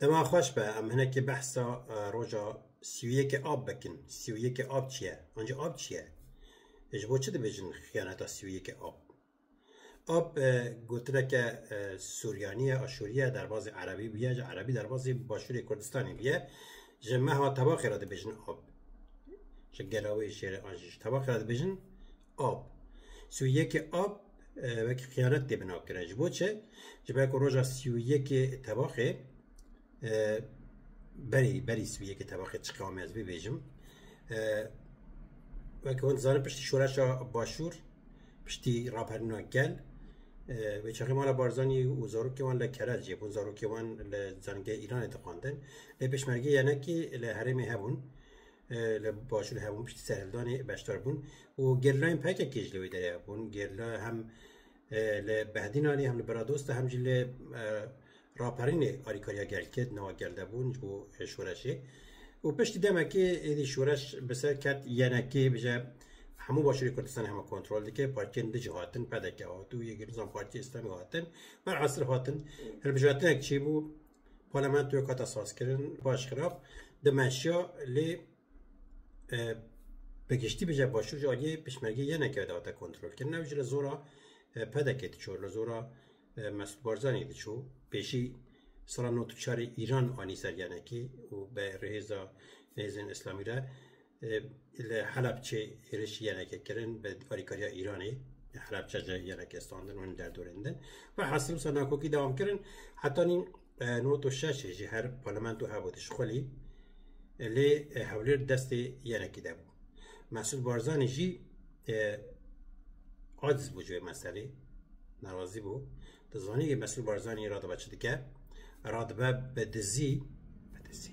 Dema xweş be em hinekî behsa roja sî û yekê ab bikin. Sî û yekê ab çi ye? Ancî ab çi ye? Ji bo çi dibêjin xiyaneta sî û yekê ab? Ab gotineke suryanî ye, aşûrî ye, derbazê erebî bûye, ji erebî derbazê başûrê Kurdistanê bûye. Ji meha tebaxê re dibêjin ab. Ji gela wê jê re an jî ji tebaxê re dibêjin Ab. Sî û yekê Ab wekî qiyanet tê binakirin. Ji bo çi? Ji ber ku roja sî û yekê tevaxê e, berî berî sî û yekê tevaxê çi qewimê ez bibêjim. E, wekî hûn dizanin piştî şoreşa başûr, piştî raperîna gel, e, wê çaxê mala Barzanî û zarokê wan li Kerec ye. Hûn zarokê wan li zanîngehê Îranê dixwandin. Lê Pêşmergeyê yenekî li herêmê hebûn. li başûrê hebûn piştî serhildanê beşdar bûn û gerîlayên PKK'ê jî li wê derê hebûn. Gerîla hem e, li Behdînanê hem li Biradosta hem jî li e, Raperînê alîkariya gel kir di nava gel de bûn ji bo e, şoreşê. Û piştî demekê êdî şoreş bi ser ket yenekê bije hemû başûrê Kurdistanê hema kontrol dike. Partiyên di jî hatin, PDK hat û yê girîzan Partiya Îslamî hatin. Ber esir hatin. Hilbijartinek çi bû? Parlamentoya ku hate sazkirin baş xirab dimeşiya lê bi giştî bije başûr ji aliyê pişmergê yeneke de hate kontrolkirin. Ew ji li zora PDK'ê diçû, li zora Mesûd Barzanî diçû. Pêşî sala nod û çarê Îran anî ser yenekê û bi rihêza nêzên îslamî re. Li Helebçê hêrişî yenekê kirin bi alîkariya Îranê. Li Helebçe jî yenekê standin û hin derdorên din. Velhasîl wisa nakokî dewam kirin. Heta nîn nod û şeşê jî her parlamento hebû tişt xwelî. Lê Hewlêr destê yenekî de bû. Mesûd Barzanî jî aciz bû ji wê meselê. Nerazî bû. Tu zanî yê Mesûd Barzanî radibe çi dike? Radibe bi dizî, bi dizî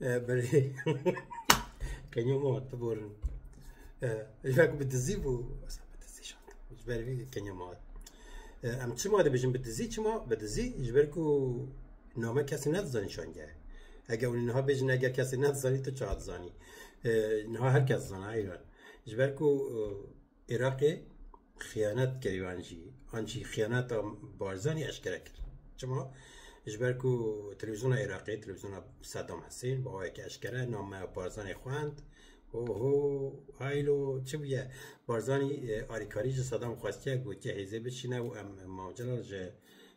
Belê. Kenyo mama tu borin. Yak bi dizî bû. Bi dizî şand. Ji ber vî kenyo mama. Em çima dibêjin bi dizî çima bi dizî ji ber ku name kesî nedizanî şangeh. Eger hûn niha bêjin eger kesî nedizanî tu çi dizanî. Niha her kes dizana eyran. Ji ber ku Iraqê xiyanet kir wan jî an jî xiyaneta Barzanî eşkere kir. Çima? Ji ber ku televîzyona Iraqê, televîzyona Sedam Husên bi awayekî eşkere nameya Barzanî xwend û ho haylo çi bûye? Barzanî alîkarî ji Sedam xwestiye gotiye hêzê biçîne û em Mav Celal ji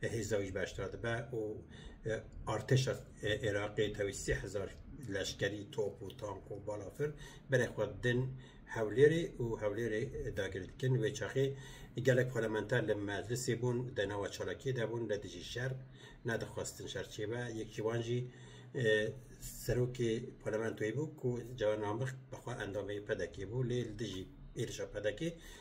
Hêza wî ji beşdar dibe û artêşa Iraqê tevî sê hezar leşkerî, top û tank û balafir berê xwe din Hewlêrê û Hewlêrê dagir dikin. Wê çaxê gelek parlamenter li meclisê bûn, di nava çalakiyê de bûn, li dijî şer nedixwestin şer çêbe. Yek ji wan jî serokê parlamentoyê bû ku Cewher Namik bi xwe endamê PDK'ê bû lê li dijî êrişa PDK'ê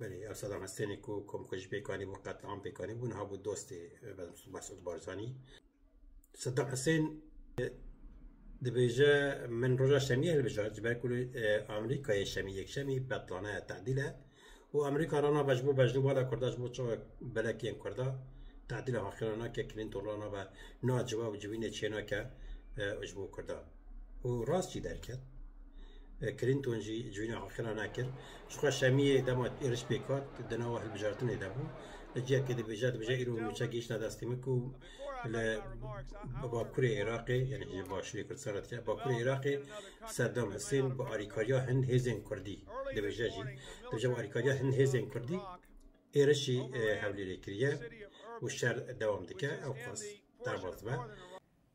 Belê ev Sedam Hesênê ku komkujî pêk anîbû qetliam pêk anîbû niha bû dostê Mesûd Barzanî. Sedam Hesên dibêje min roja şemiyê hilbijart ji ber ku li Amerîkayê şemî yekşemî betlane ye tedîl e û Amerîka rana be ji bo beşdû bala Kurda ji bo çawa belek yên Kurda tedîla haqî rana ke Clinton rana be na ciwa û civînê çênake ji bo Kurda. Û rast jî derket. Clinton jî civîna Aqila nekir. Jixwe Şemiyê dema êriş pêk hat di nava hilbijartinê de bû. Li cihekê dibêje, dibêje îro nûçe gihîştine destê min ku li bakurê Iraqê yanî ji başûrê Kurdistanê re dike, bakurê Iraqê Seddam Husên bi alîkariya hin hêzên Kurdî dibêje jî, dibêje bi alîkariya hin hêzên Kurdî êrişî Hewlêrê kiriye û şer dewam dike. Ewqas derbas dibe.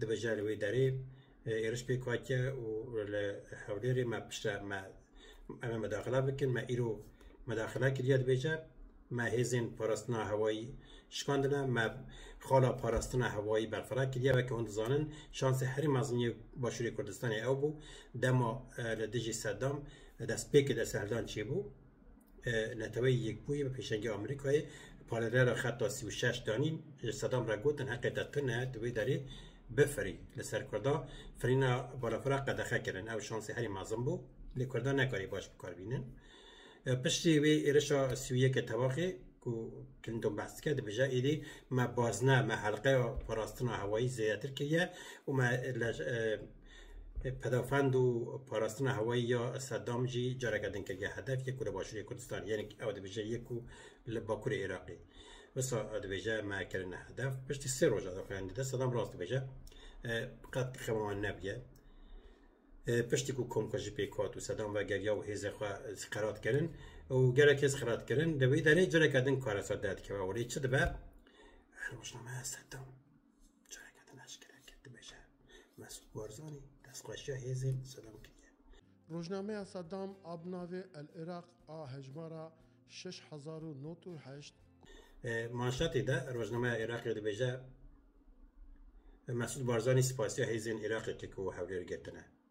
Dibe jî li wê derê êriş pêk hatiye û li Hewlêrê me piştre me em ê medaxila bikin, me îro medaxila kiriye dibêje, me hêzên parastina hewayî şikandine, me xala parastina hewayî berfira kiriye. Weke hûn dizanin şansê herî mezin yê Başûrê Kurdistanê ew bû dema li dijî Sedam destpêkê desthiledan çêbû. Neteweyî Yekbûyî bi pêşengî Amerîkayê parêzgera Xeta sî û şeş danîn ji sedem re gotin heqê te tune ye tu wê derê bifirî. Li ser kurdan firîna balafira qedexe kirin. Ew şansê herî mezin bû lê kurdan nekarî baş bi kar bînin. Piştî wê êrişa sî û yekê tevaxê ku Clinton behs dike dibêje êdî me bazne me helqeya parastina hewayî zêdetir kiriye û me li Pedafend û parastina hewayî ya Sedam jî careke din kiriye hedef yê ku li başûrê Kurdistanê yên ew dibêje yê ku li bakurê Iraqê. Wisa ew dibêje me kirine hedef. Piştî sê roja daxuyanî de Sedam rast dibêje. Qet xema wan nebûye. Piştî ku komkujî pêk hat û Sedam vegeriya û hêzên xwe qerat kirin û gelek hêz qerat kirin di wî derê careke din karesa derdikeve û lê çi dibe? Her rojnameya Sedam. Çavêka din eşkere kir dibêje, Mesûd Barzanî destxweşiya hêzên Sedam kiriye. Rojnameya Sedam a bi navê El Iraq a hejmara şeş hezar û nod û heşt, Manşetê de rojnameya Iraqê dibêje, Mesûd Barzanî sipasiya hêzên Iraqê kir ku Hewlêr girtine.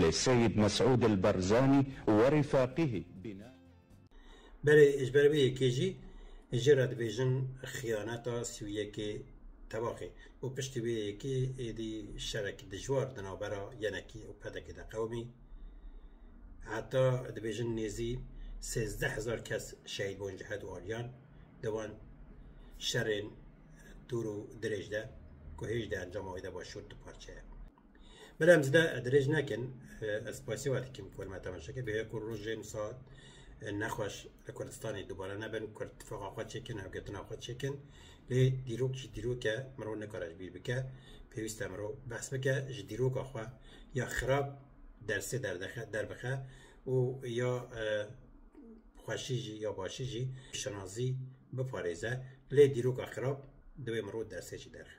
Lê Seyîd Mesûd El Barzanî we rîfaqîhî bîna. Belê ji ber vê yekê jî jê re dibêjin xiyaneta sî û yekê tevaxê û piştî vê yekê êdî şerekî dijwar di navbera yenekî û pedekê de qewimî. Heta dibêjin nêzî sêzdeh hezar kes şehîd bûn ji hedu aliyan di van şerên dûr û dirêj de ku hêj di encama wê de başûr du parçe ye. Bila em zide dirêj nekin, ez spasî we dikim ku me temaşe kir. Bêya ku rojên saet nexweş li Kurdistanê dubare nebin, Kurd tifaqa xwe çêkin, hevgetina xwe çêkin. Lê dîrok jî dîrok e, mirov nikare ji bîr bike. Pêwîst e mirov behs bike ji dîroka xwe ya xirab dersê derdexe derbixe û ya xweşî jî ya başî jî şinazî biparêze. Lê dîroka xirab divê mirov dersê jî derxe.